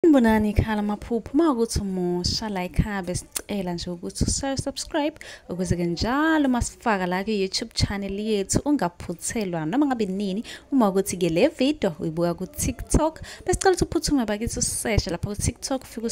Sanibonani ikhala amaphupho uma ukuthi umusha la ikhaya besicela nje ukuthi usayo subscribe ukuze ke njalo masifaka la ku-youtube channel yethu ungaphuthelwa noma ngabe nini uma ukuthi ke le video uyibuka ku-tiktok besicela ukuthi uphuthume bakithi useshe lapha ku-tiktok ufike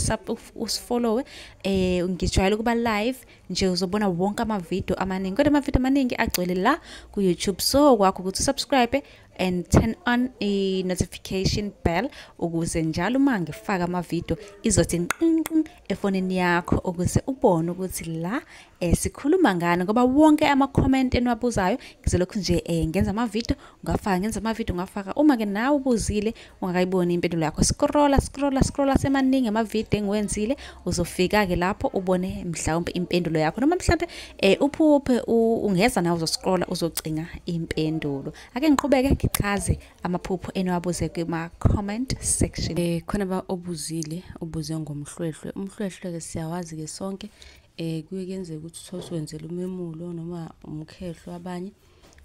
usifollowe eh ngijwayele ukuba live nje uzobona wonke amavidiyo amaningi kodwa amavidiyo amaningi agcwele la ku-youtube so kwakho ukuthi usubscribe and turn on a notification bell ukuze njalo uma ngifaka amavidiyo izothi nqinqin efonini yakho ukuze ubone ukuthi la eh, sikhuluma ngani ngoba wonke ama-comment eniwabuzayo ngizolokhu nje eh, ngenza amavidiyo ngafaka ngenza amavidiyo ngafaka uma-ke nawe ubuzile ungakayiboni impendulo yakho scrolla scrolla scrolla semaningi amavidiyo engiwenzile uzofika-ke lapho ubone mhlawumpe impendulo yakho noma mhlawumpe um uphuphe ungeza nawe uzoscrolla uzocinga impendulo ake ngiqhubeke ngichaze amaphupho eniwabuze kuma-comment section um khona ba obuzile ubuze ngomhlwehlwe umhlwehlwe-ke siyawazi-ke sonke um kuye kuyenzeka ukuthi uthole usuwenzela umemulo noma umkhehlo abanye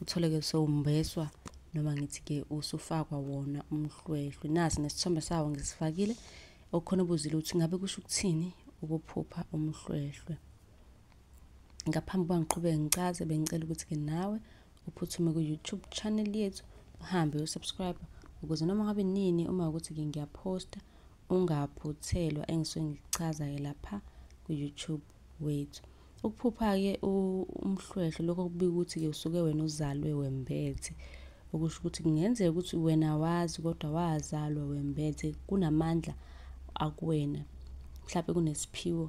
uthole-ke sewumbeswa noma ngithi-ke usufakwa wona umhlwehlwe nasi nesithombe sawo ngisifakile okukhona ubuzile ukuthi ngabe kusho ukuthini ukuphupha umhlwehlwe ngaphambi kuba ngiqhubeke ngicaze bengicela ukuthi-ke nawe uphuthume ku-youtube channel yethu uhambe uyosubscribe ukuze noma ngabe nini uma ukuthi-ke ngiyaphosta ungaphuthelwa engisuke ngikuchaza-ke lapha ku-youtube wethu ukuphupha-ke umhlwehlwe lokho kubika ukuthi-ke usuke wena uzalwe wembethe okusho ukuthi kungenzeka ukuthi wena wazi kodwa wazalwa wembethe kunamandla akuwena mhlawumbe kunesiphiwo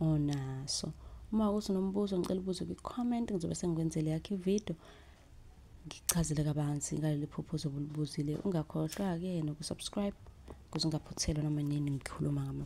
onaso uma ukuthi unombuzo ngicela ubuze kwi-comment ngizobe sengikwenzele yakho ividiyo ngichazele kabanzi ngaleli phupho ozobe ulibuzile ungakhohlwa-ke nokusubscribe ukuze ungaphuthelwa noma nini ngikhuluma ngama